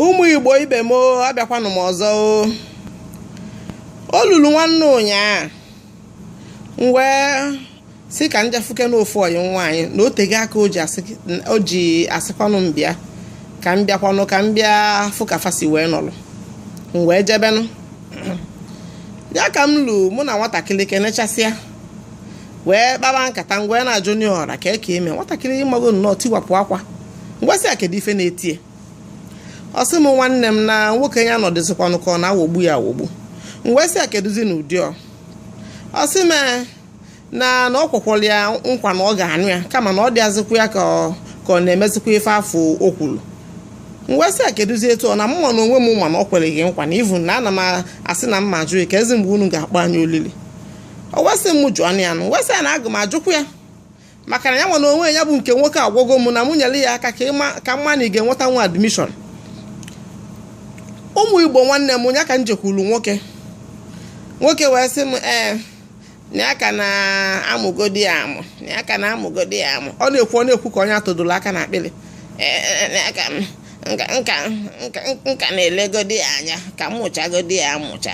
ụmụ igbo ibe m abịakwanụ m ọzọ o lulu nwanne ụnyaa m wee sị ka m jee fụkene ofu ọyị nwaanyị na o tego aka o ji asịkwanụ m bịa ka m bịakwanụ ka m bịa fụ ka fa si wee nọrọ m wee jebenụ ya ka m lu mụ na nwatakịrị kenechasịa wee kpaba nkata m wee na-ajụ onye ọra ka eke eme nwatakịrị ịmago nnọọ tiwapụ akwa m wee sị a kedu ife na-etie ọ sị m nwanne m na nwoke ya na ọ dịzikwanụ ka ọ na-awọgbu ya awọgbu m wee sị a kedụzi na ụdị ọ ọ sị m na na o kwekwọrọ ya nkwa na ọ ga-anụ ya kama na ọ dịazịkwa ya ka ọ na-emezikwa ife afụ o kwuru m wee sị a kedụzi etu ọ na mụnwa na onwe m ma na o kwere gị nkwa na ivu na ana m asị na m ma ajụ keezi mgbe unu ga-akpọ anyị olili o wee sị m jụọ ya nụ m wee sị ya na aga m ajụkwu ya maka na ya nwa na onwe ya bụ nke nwoke agwago m na mụ nyere ya aka ka m ma na ị ga-enweta nwa admission ụmụ igbo nwanne m ya ka m jekwuru nwoke nwoke wee sị m ee eh, na ya ka na-amụgodi ya amụ na ya ka na-amụgodi ya amụ ọ na-ekwu ọ na-ekwu ka onye a tụdoro aka n'akpịrị m ka na-elegodi ya anya ka m mụchagodi ya amụcha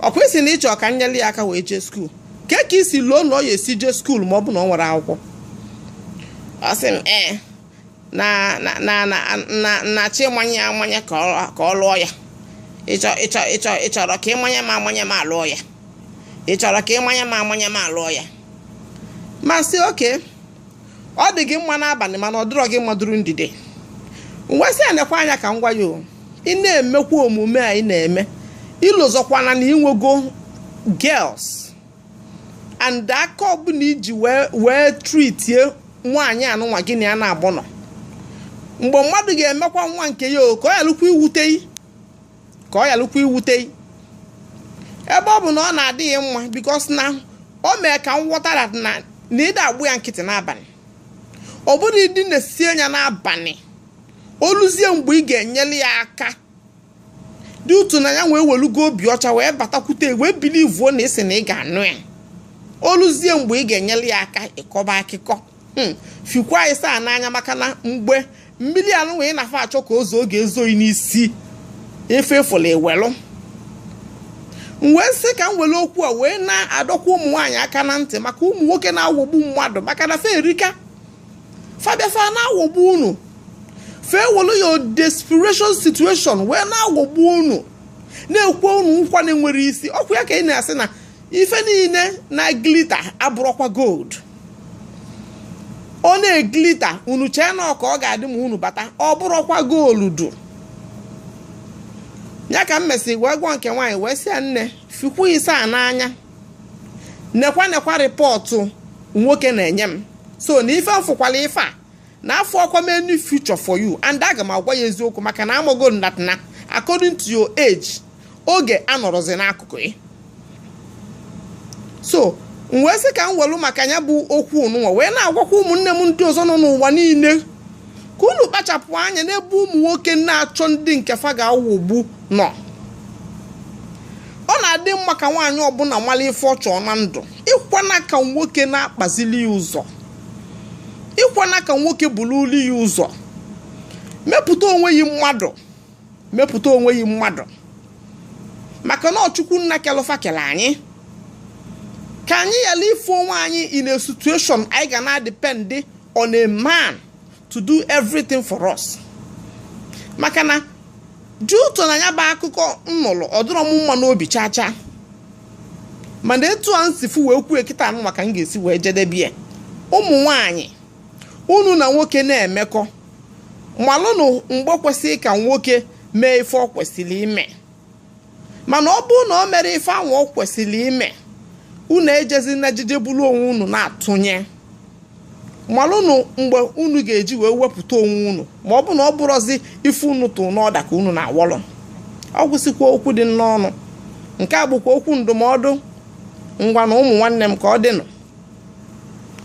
ọ kwa ị sị na ị chọ ka m nyere ya aka wee jee school kee ka i si loo na ọ ya-esi jee school ma ọ bụ na o nwerọ akwụkwọ ọ sị m ee eh, na na na na na a chọ ịmanye amanye ka ọ lụọ ya ị chọ ị chọ ị chọ ị chọrọ ka ị manye m amanye m alụọ ya ị chọrọ ka ị manye m amanye m alụọ ya m asị okay ọ dị gị mma n'abalị mana ọ dịrọ gị mma during the day m wee sị a nekwa anya ka m gwa ya o ị na-emekwa omume a ị na-eme i lozokwana na i nwego girls and aka ọbụla i ji wee wee treatie nwaanyị anụnwa gị na ya naabọ nọ mgbe mmadụ ga-emekwa nwa nke ya o ka ọ yalụkwa iwute ka ọ yalụkwa iwute ị ebe ọ bụ na ọ na-adị gị mma because na o mere ka m ghọta na na na ị da-agba ya nkịtị n'abalị ọ bụrụ ịdị na-esi anya n'abalị o luzie mgbe ị ga-enyere ya aka due to na ya nwa ewelugo obi ọcha wee batakwute ị wee believuo na ị sị na ị ga-anụ ya o luzie mgbe ị ga-enyere ya aka ị kọba akụkọ hmm, fikwa anyị saa n'anya maka na mgbe mmiri a nwa ị na-afụ a chọ ka o zoo ọ ga-ezo gị n'isi ife ị fụlụ i welụ m wee sị ka m were okwu a wee na-adọkwa ụmụ nwaanyị aka na ntị maka ụmụ nwoke na-awọgbu mmadụ maka na fa erika fa bịa fa ana-awọgbu unu fa ewere your desperation situation wee na-awọgbu unu na-ekwe unu nkwa na-enwerọ isi ọ kwa ya ka ị na-asị na ife niile na-glitter abụrọkwa gold ọ na-eglitter unu chee na ọ ka ọ ga-adị ma unu bata ọ bụrụkwa gold ọ ya ka m mesịrị wee gwa nke nwaanyị wee sị ya nne fikwu ise a n'anya nekwa nekwa report nwoke na-enye m so na ife m fụkwalụ ife a na afụrọkwa m any future for you and aga m agwa ya eziokwu maka na amago m that na according to your age oge anọrọzi n'akụkụ yi so m wee sị ka m welu maka ya bụ okwu nụnwa wee na-agwakwa ụmụnne m ndị ọzọ nọ n'ụwa niile ka unu kpachapụ anya n'ebe ụmụ nwoke na-achọ ndị nke fa ga-awọgbu nọ ọ na-adị mma ka nwaanyị ọbụla mara ife ọ chọ na ndụ ekwena ka nwoke na-akpazili ya ụzọ ekwena ka nwoke burulu ya ụzọ mepụta onwe yi mmadụ mepụta onwe yi mmadụ maka na ọ chukwu nna kelụ fa kele anyị ka anyị ghara ịfụ onwe anyị in a situation anyị ga na-adepend on a man to do everything for us maka na dị ụtọ na ya bụ akụkọ m nụlụ ọ dịrọ m mma n'obi chaa chaa mana etu a m si fụ wee kwuo kịta anụnwa ka m ga-esi wee jedebe ya ụmụ nwanyị unu na nwoke na-emekọ malụnụ mgbe kwesịrị ka nwoke mee ife ọ kwesịrị ime mana ọ bụrụ na o merọ ife ahụ ọ kwesịrị ime unu ejezina jije buru onwe unu na-atụnye malụnụ mgbe unu ga-eji wee wepụta onwe unu ma ọ bụrụ na ọ bụrọzi ife unu tụ n'order ka unu na-awọlụ ọ gwụsịkwa okwu dị m n'ọnụ nke a bụkwa okwu ndụmọdụ ngwanụ ụmụ nwanne m ka ọ dịnụ